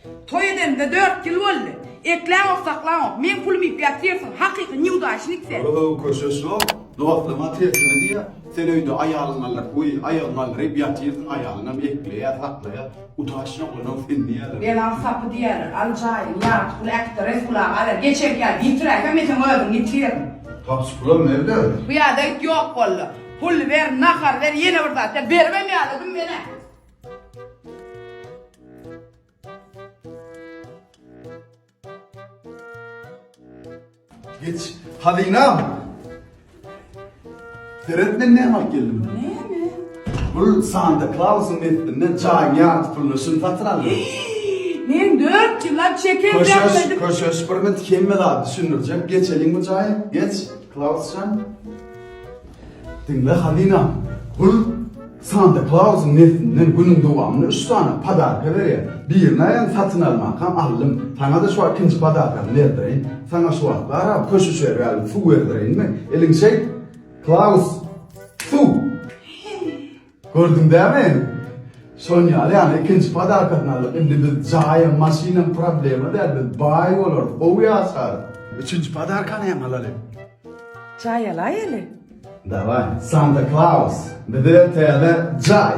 Toý edenimize dört ýyl boldy. Ekläňok, saklaňok. Meň pulum iýip ýatyrsyň. Hakyky nýudaçnik sen. Ol höw köşeş ýok. Dostlaryňa tersini diýýä. Sen öýde aýalyň aldyryp, we aýagyň galdyryp ýatyrsyň, aýalyňam ekleýä, saklaýa. Utaş ýoklanaň sen diýýäler. Belan sapy diýýäler. Al jaýyň, ýat, pul äkit-de Resul aga alar. Geçenki ýaly ýitiräýsem men seň özüňi ýitiririm. Tapys pulam nerden? Bu ýerde it ýok boldy. Pul ber, nahar ber, ýene bir zat ber. Beribem ýaladym men-ä. Geç. Hazynam. Seret men näme alyp geldim. Näme? Bul Santa Claus'un metinden çaýyň ýarty puluna şuny satyn aldım. Men 4 ýyllap şeker Köşeş, bermedim. köşeş bir mit hemme zat düşündirjek. Geçeliň bu çaýy. Geç. Klausjan. Diňle Halina, bul Santa Klausyň neslinden günüň dowamynda üç sany podarka berýär. Birini aýan satyn almakam aldym. Saňa-da şu wagt ikinji podarkamy berdireýin. Saňa şu wagtlar-a köş uçar ýaly suw berdireýinmi? Eliň şeýt, Klaus! Suw! Gördüň dämi? Şonuň ýaly ýagny ikinji podarkasyny aldyk. Indi biz jaýam, maşynam problema däl. Biz baý bolarys, gowy ýaşarys. Üçünji podarkany hem alaly. Jaý alaýaly. Daway, Santa Klaus, bize täze jaý!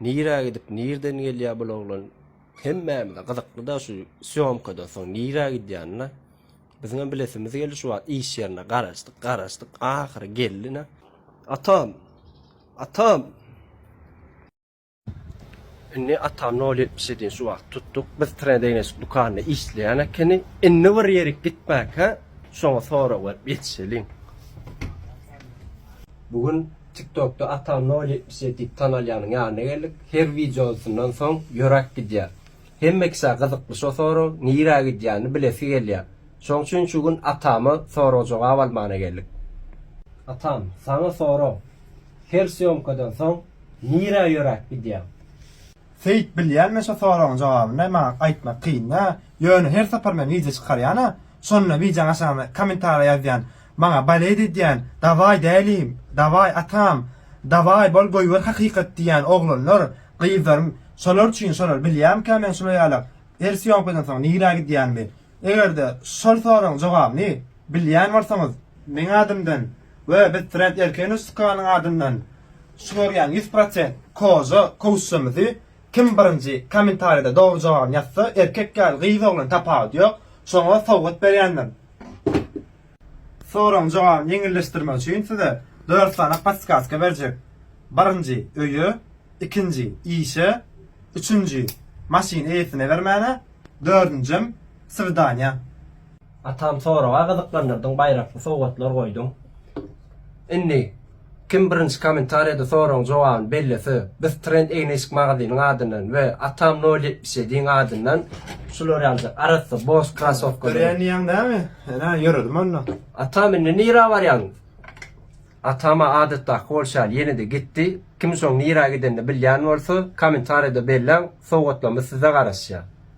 Nirä gidip nirden gelýä bul oglan hemmämize gyzyklyda şu sýomkadan soň nirä gidýänine biziňem bilesimiz geldi şu wagt iş ýerine garaşdyk garaşdyk ahyry geldi ne atam atam indi atam nol ýetmiş edin şu wagt tutduk biz trendeýneşik dükanyna işleýän ekeni indi bir ýerik gitmäkä şoňa sorag berip ýetişeliň bu gün Tiktokda Ata nol ýetmiş ýedi diýip tanalýanyň ýanyna geldik. Her wideosyndan soň ýöräp gidýär. Hemme kişä gyzykly şo soragyň nirä gidýänini bilesi gelýär. Şoň üçin şu gün Atama sorag jogap almana geldik. Atam, saňa sorag. Her sýomkadan soň nirä ýöräp gidýäň? Seýit bilýän men şo soragyň jogabyny maňa aýtmak kynda ýöne her sapar men wideo çykarýana şonda wideoň aşagyna komentariýa ýazýan maňa baledi edýän dawaý dälim dawaý atam dawaý bol goýber hakykat diýýän oglanlar gyzlarym şolar üçin şolar bilýämkä men şular ýalak her sýomkadan soň nirä gidýänimi egerde şol soragyň jogabyny bilýän bolsaňyz meň adymdan We biz trend erkeni sukanyň adyndan çygarýan ýüz prosent koja kowuşjamyzy kim birinji komentarýada dogry jogabyny ýazsa erkek ýaly gyz oglan tapawudy ýok şoňa sowgat berýändir. Soragyň jogabyny ýeňilleşdirmek üçin size dört sany podskazka berjek. Birinji öýe, ikinji işe, üçünji maşyny eýesine bermäne, dördünjem swidaniýa. Atam soraga gyzyklandyrdyň baýrakly sowgatlar goýduň. Indi kim birinji komentariýada soragyň jogabyny bellese biz trend egneşik magazynyň adyndan we atam nol ýetmiş ýedi yň adyndan şular ýaly arassa boş krasowkalary Dörýän diýýäň dämi? Ene ýöredim onda. Atam indi nirä barýaň? Atama adatdaky bolşy ýaly ýene-de gitdi. Kim şoň nirä gidenini bilýän bolsa komentariýada belläň sowgatlarymyz size garaşýa.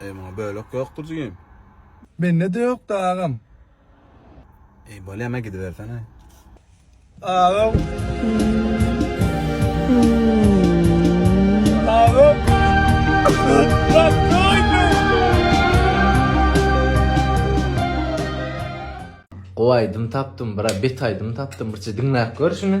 Eý muňa bölek ýokdur jigim. Mende-de ýokda agam. Eý bolýa me gidibersene. Agam. Agam. Gowy aýdym tapdym bra bet aýdym tapdym birje diňläp gör şuny.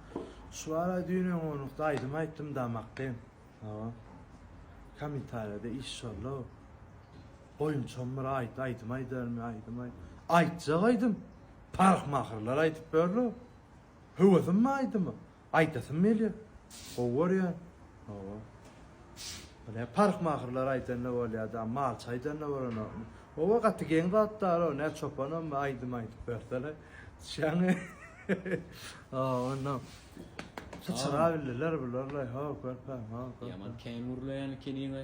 Şuwara düýn öňňonlukda aýdym aýtdym da makgym. Hawa. Komentarýada iş şolla. Goýunçam bir aýt, aýdym aýdarmy, aýdym aýt. Aýtjak aýdym. Parhmahyrlar aýdyp berler. Höwesim bar aýdyma. Aýdasym gelýär. Gowy görýän. Hawa. Ine parhmahyrlar aýdan-da bolýar da, malçy aýdan-da bolanokmy. Howa gaty geň zat daro nä çopanam aýdym aýdyp bersene düşýäňmi hoo onda syçrabildiler bular laý hoo körpem hoo körpem. Ýaman kän gürleýän ekeniňä.